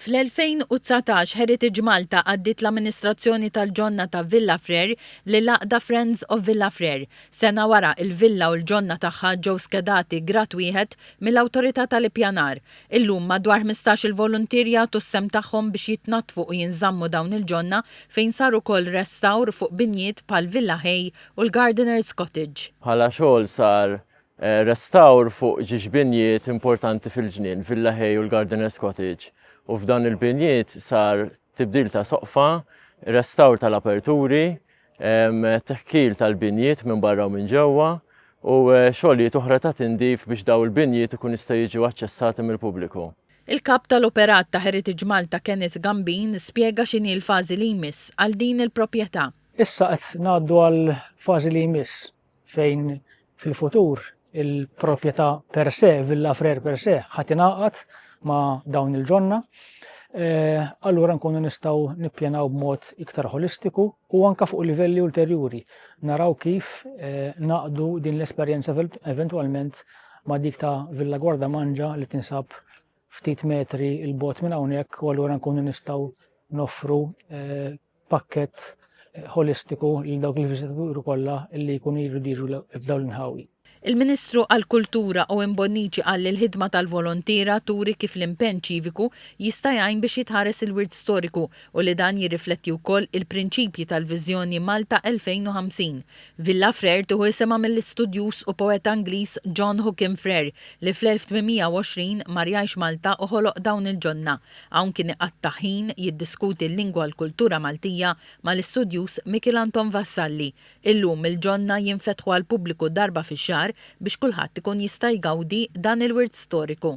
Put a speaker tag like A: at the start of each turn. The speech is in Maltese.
A: Fl-2019 Heritage Malta għaddiet l-amministrazzjoni tal-ġonna ta' Villa Frere lill-għaqda Friends of Villa Frere. Sena wara, il-villa u l-ġonna tagħha ġew skedati Grad Wieħed mill-Awtorità tal-Ippjanar. Illum, madwar ħmistax-il voluntier jagħtu s-sehem tagħhom biex jitnaddfu u jinżammu dawn il-ġonna fejn sar ukoll restawr fuq binjiet bħal Villa Hay u l-Gardener's Cottage. Bħala xogħol
B: sar Restawr fuq ġiex binjiet importanti fil-ġnien, Villa Hay u l-Gardener's Cottage, u f'dawn il-binjiet sar tibdil ta' soqfa, restawr tal-aperturi, teħkil tal-binjiet minn barra u minn ġewwa, u xogħlijiet oħra ta' tindif biex dawn il-binjiet ikun jistgħu jiġu aċċessati mill-pubbliku. Il-Kap tal-Operat
A: ta' Heritage Malta Kenneth Gambin spjega x'inhi l-fażi li jmiss għal din il-proprjetà. Issa qed
C: ngħaddu għall-fażi li jmiss fejn fil-futur il-proprjetà per se, Villa Frer per se, ħadd ingħaqad ma' dawn il-ġonna, eh, allura nkunu nistgħu nippjanaw b'mod iktar holistiku u anka fuq livelli ulterjuri naraw kif eh, naqdu din l-esperjenza eventwalment ma' dik ta' Villa Guarda Manġa li tinsab ftit metri il-bot minn hawnhekk u allura nkunu nistgħu noffru eh, pakkett ħolistiku lil dawk il-viżitaturi kollha li jkunu jridu jiġu f'dawn l-inħawi. Il-Ministru
A: għall-Kultura Owen Bonnici qal li l-ħidma tal-volontiera turi kif l-impenn ċiviku jista' jgħin biex jitħares il-wirt storiku u li dan jirrifletti wkoll il-prinċipji tal-viżjoni Malta 2050. Villa Frere tieħu isimha mill-istudjuż u poeta Ingliż John Hookham Frere li fl-1820 mar jgħix Malta u ħoloq dawn il-ġonna. Hawn kien iqatta' ħin jiddiskuti l-lingwa u l-kultura Maltija mal-istudjuż Mikiel Anton Vassalli. Illum il-ġonna jinfetħu għall-pubbliku darba fix-xahar biex kulħadd ikun jista' jgawdi dan il-wirt storiku.